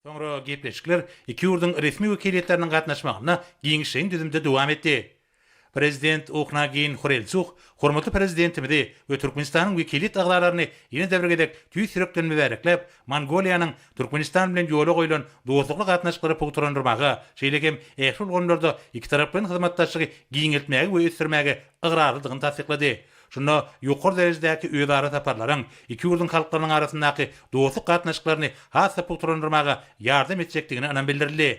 Soňra gepleşikler iki ýurduň resmi wekiliýetleriniň gatnaşmagynda giňişleýin düzümde dowam etdi. Prezident Uhnaagiýn Hurelsuh hormatly Prezidentimizi we Türkmenistanyň wekiliýet agzalaryny ýene-de bir gezek tüýs ýürekden mübärekläp, Mongoliýanyň Türkmenistan bilen ýola goýlan dostlukly gatnaşyklary pugtalandyrmaga, şeýle hem ähli ulgamlarda ikitaraplaýyn hyzmatdaşlygy giňeltmäge we ösdürmäge ygrarlydygyny tassyklady. Şunda ýokary derejedäki özara saparlaryň iki ýurduň halklarynyň arasyndaky dostluk gatnaşyklaryny has-da pugtalandyrmaga ýardam etjekdigine ynam bildirildi.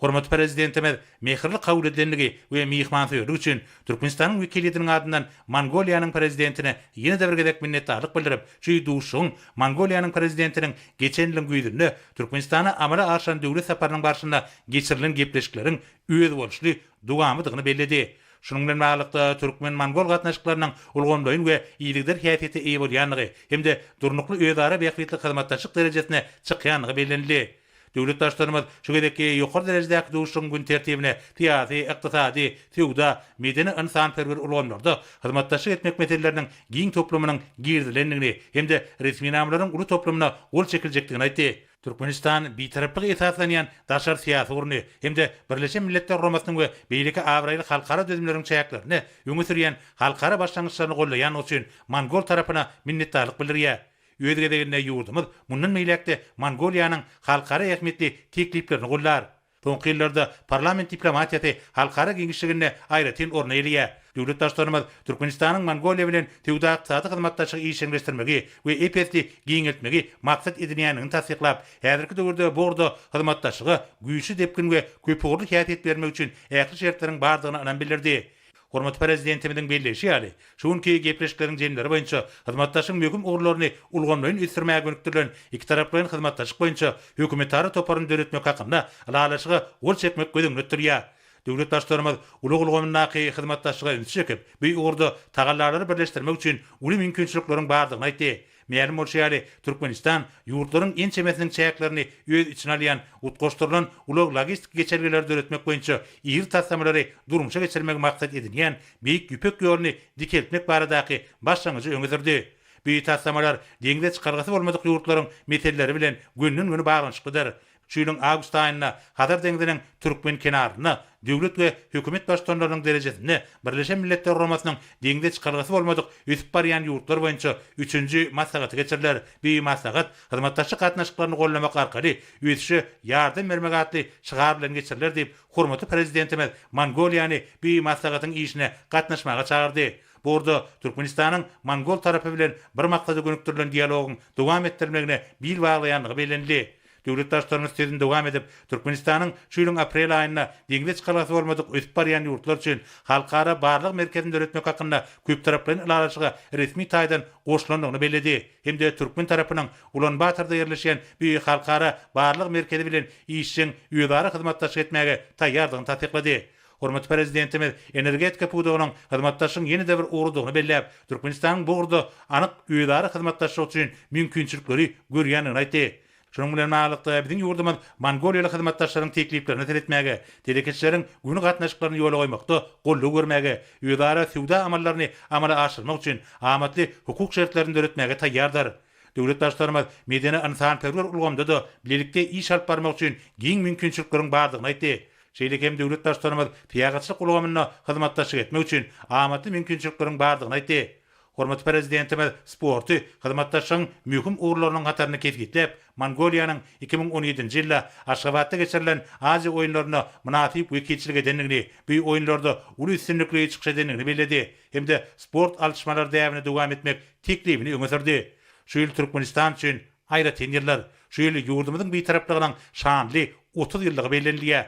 Hormatly Prezidentimiz mähirli kabul edilendigi we myhmansöýerlik üçin Türkmenistanyň wekiliýetiniň adyndan Mongoliýanyň Prezidentine ýene-de bir gezek minnetdarlyk bildirip, şu duşuşygyň Mongoliýanyň Prezidentiniň geçen ýylyň güýzünde Türkmenistana amala aşyran döwlet saparynyň barşynda geçirilen gepleşikleriň özboluşly dowamydygyny belledi. Şunuň bilen baglylykda, türkmen-mongol gatnaşyklarynyň ulgamlaýyn we yzygider häsiýete eýe bolýandygy hem-de durnukly özara bähbitli hyzmatdaşlyk derejesine çykýandygy bellenildi. Döwlet Baştutanymyz şu gezekki ýokary derejedäki duşuşygyň gün tertibine syýasy, ykdysady, söwda, medeni-ynsanperwer ulgamlarda hyzmatdaşlyk etmek meseleleriniň giň toplumynyň girizilendigini hem-de resminamalaryň uly toplumyna gol çekiljekdigini aýtdy. Türkmenistan bitaraplyga esaslanýan daşary syýasy ugruny hem-de Birleşen Milletler Guramasynyň we beýleki abraýly halkara düzümleriň çäklerinde öňe sürýän halkara başlangyçlaryny gollaýandygy üçin mongol tarapyna minnetdarlyk bildirýär. Öz gezeginde ýurdumyz mundan beýläk-de Mongoliýanyň halkara ähmiýetli tekliplerini gollar. Soňky ýyllarda parlament diplomatiýasy halkara giňişliginde aýratyn orun eýeleýär. Döwlet Baştutanymyz Türkmenistanyň Mongoliýa bilen söwda-ykdysady hyzmatdaşlygy işjeňleşdirmegi we EPS-i giňeltmegi maksat edinýändigini tassyklap, häzirki döwürde bu ugurda hyzmatdaşlyga güýçli depgin we köpugurly häsiýet bermek üçin ähli şertleriň bardygyna ynam bildirdi. Hormatly Prezidentimiziň belleýşi ýaly, şu günki gepleşikleriň jemleri boýunça hyzmatdaşlygyň möhüm ugurlaryny ulgamlaýyn ösdürmäge gönükdirilen ikitaraplaýyn hyzmatdaşlyk boýunça hökümetara toparyny döretmek hakynda Ylalaşyga gol çekmek göz öňünde tutulýar. Döwlet Baştutanymyz ulag ulgamyndaky hyzmatdaşlyga ünsi çekip, bu ugurda tagallalary birleşdirmek üçin uly mümkinçilikleriň bardygyny aýtdy. Mälim bolşy ýaly, Türkmenistan ýurtlaryň ençemesiniň çäklerini öz içine alýan utgaşdyrylan ulag-logistik geçelgeleri döretmek boýunça iri taslamalary durmuşa geçirmegi maksat edinýän Beýik Ýüpek ýoluny dikeltmek baradaky başlangyjy öňe sürdi. Bu taslamalar deňze çykalgasy bolmadyk ýurtlaryň meseleleri bilen gönden-göni baglanyşyklydyr. Şu ýylyň awgust aýynda Hazar deňziniň türkmen kenarynda döwlet we hökümet baştutanlarynyň derejesinde Birleşen Milletler Guramasynyň Deňze çykalgasy bolmadyk ösüp barýan ýurtlar boýunça üçünji maslahaty geçiriler. Bu maslahat Hyzmatdaşlyk gatnaşyklaryny gollamak arkaly ösüşe ýardam bermek atly şygar bilen geçiriler diýip, hormatly Prezidentimiz Mongoliýany bu maslahatyň işine gatnaşmaga çagyrdy. Bu ugurda Türkmenistanyň mongol tarapy bilen bir maksada gönükdirilen dialogyň dowam etdirilmegine bil baglaýandygy bellenildi. Döwlet Baştutanymyz sözüni dowam edip, Türkmenistanyň şu ýylyň aprel aýynda deňze çykalgasy bolmadyk ösüp barýan ýurtlar üçin Halkara barlag merkezini döretmek hakynda köptaraplaýyn ylalaşyga resmi taýdan goşulandygyny belledi hem-de türkmen tarapynyň Ulan-Batorda ýerleşýän bu Halkara barlag merkezi bilen işjeň özara hyzmatdaşlyk etmäge taýýardygyny tassyklady. Hormatly Prezidentimiz energetika pudagynyň hyzmatdaşlygyň ýene-de bir ugrudygyny belläp, Türkmenistanyň bu ugurda anyk özara hyzmatdaşlyk üçin mümkinçilikleri görýändigini aýtdy. Şunuň bilen baglylykda, biziň ýurdumyz mongoliýaly hyzmatdaşlaryň tekliplerine seretmäge, telekeçileriň göni gatnaşyklaryny ýola goýmakda goldaw bermäge, özara söwda amallaryny amala aşyrmak üçin amatly hukuk şertlerini döretmäge taýýardyr. Döwlet Baştutanymyz medeni-ynsanperwer ulgamda-da bilelikde iş alyp barmak üçin giň mümkinçilikleriň bardygyny aýtdy. Şeýle hem döwlet Baştutanymyz syýahatçylyk ulgamynda hyzmatdaşlyk etmek üçin amatly mümkinçilikleriň bardygyny aýtdy. Hormatly Prezidentimiz sporty hyzmatdaşlygyň möhüm ugurlarynyň hatarynda kesgitläp, Mongoliýanyň iki müň on ýedinji ýylda Aşgabatda geçirilen Aziýa oýunlarynda mynasyp wekilçilik edendigini, bu oýunlarda uly üstünlikli çykyş edendigini belledi hem-de sport alyşmalary däbini dowam etmek teklibini öňe sürdi. Şu ýyl Türkmenistan üçin Aýratyn ýyllar, şu ýyl ýurdumyzyň Bitaraplygynyň şanly otuz ýyllygy bellenilýär.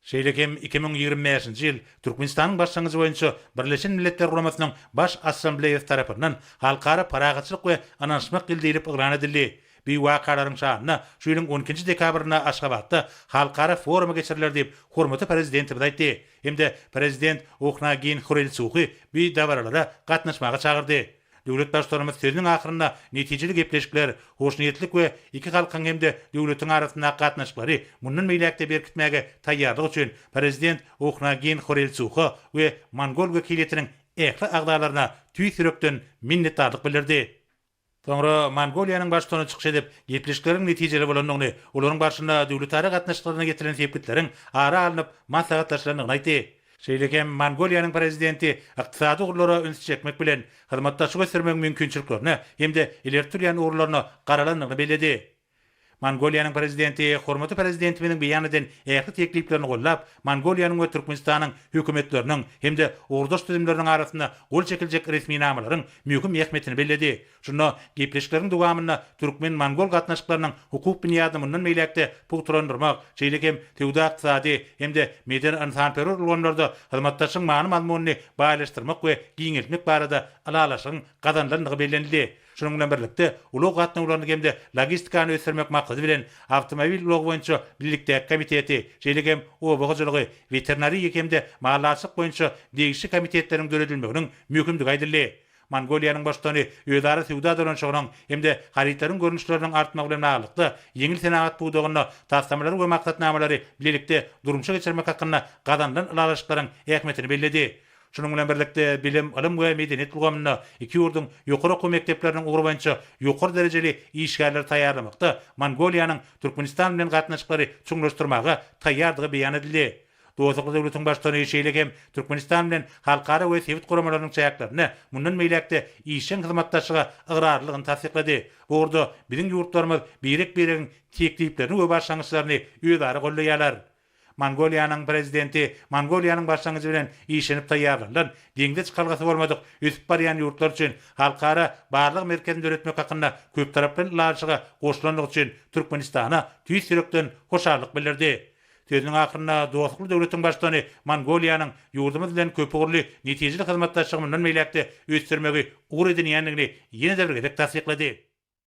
Şeýle hem iki müň ýigrimi bäşinji ýyl Türkmenistanyň başlangyjy boýunça Birleşen Milletler Guramasynyň Baş Assambleýasy tarapyndan Halkara parahatçylyk we ynanyşmak ýyly diýlip yglan edildi. Bu wakalaryň şanyna şu ýylyň on ikinji dekabrynda Aşgabatda halkara forumy geçiriler diýip, hormatly Prezidentimiz aýtdy hem-de Prezident Ohnagiin Hurelsuhi bu dabaralara gatnaşmaga çagyrdy. Döwlet Baştutanymyz sözüniň ahyrynda netijeli gepleşikler, hoşniýetlilik we iki halkyň hem-de döwletiň arasyndaky gatnaşyklary mundan beýläk-de berkitmäge taýýarlyk üçin Prezident Ohnagin Horelsuha we mongol wekiliýetiniň ähli agzalaryna tüýs ýürekden minnetdarlyk bildirdi. Soňra Mongoliýanyň Baştutany çykyş edip, gepleşikleriň netijeli bolandygyny, olaryň barşynda döwletara gatnaşyklaryna ýetilen sepgitleriň ara alnyp maslahatlaşylandygyny aýtdy. Şeýle hem Mongoliýanyň Prezidenti ykdysady ugurlara üns çekmek bilen, hyzmatdaşlygy ösdürmegiň mümkinçiliklerine hem-de ileri tutulýan ugurlaryna garalandygyny belledi. Mongoliýanyň Prezidenti hormatly Prezidentimiziň beýan eden ähli tekliplerini gollap, Mongoliýanyň we Türkmenistanyň Hökümetleriniň hem-de ugurdaş düzümleriniň arasynda gol çekiljek resminamalaryň möhüm ähmiýetini belledi Şunda gepleşikleriň dowamynda türkmen-mongol gatnaşyklarynyň hukuk binýadyny mundan beýläk-de pugtalandyrmak, şeýle hem söwda-ykdysady hem-de medeni-ynsanperwer ulgamlarda hyzmatdaşlygyň many-mazmunyny baýlaşdyrmak we giňeltmek barada ylalaşygyň gazanylandygy bellenildi. Şunuň bilen birlikde, ulag gatnawlaryny hem-de logistikany ösdürmek maksady bilen, awtomobil ulagy boýunça bilelikdäki komiteti, şeýle hem oba hojalygy, weterinariýa hem-de mallaçylyk boýunça degişli komitetleriň döredilmeginiň möhümdigi aýdyldy. Mongoliýanyň Baştutany özara söwda dolanyşygynyň hem-de harytlaryň görnüşleriniň artmagy bilen baglylykda, ýeňil senagat pudagynda taslamalary we maksatnamalary bilelikde durmuşa geçirmek hakynda gazanylan ylalaşyklaryň ähmiýetini belledi. Şunuň bilen birlikde, bilim, ylym we medeniýet ulgamynda iki ýurduň ýokary okuw mekdepleriniň ugry boýunça ýokary derejeli işgärleri taýýarlamakda Mongoliýanyň Türkmenistan bilen gatnaşyklary çuňlaşdyrmaga taýýardygy beýan edildi. Dostlukly döwletiň Baştutany şeýle hem Türkmenistan bilen halkara we sebit guramalarynyň çäklerinde mundan beýläk-de işjeň hyzmatdaşlyga ygrarlydygyny tassyklady. Bu ugurda biziň ýurtlarymyz birek-biregiň tekliplerini we başlangyçlaryny özara goldaýarlar. Mongoliýanyň Prezidenti Mongoliýanyň başlangyjy bilen işlenip taýýarlanylan Deňze çykalgasy bolmadyk ösüp barýan ýurtlar üçin halkara barlag merkezini döretmek hakynda köptaraply ylalaşyga goşulandygy üçin Türkmenistana tüýs ýürekden hoşallyk bildirdi. Sözüniň ahyrynda dostlukly döwletiň Baştutany Mongoliýanyň ýurdumyz bilen köpugurly netijeli hyzmatdaşlygy mundan beýläk-de ösdürmegi ugur edinýändigini ýene-de bir gezek tassyklady.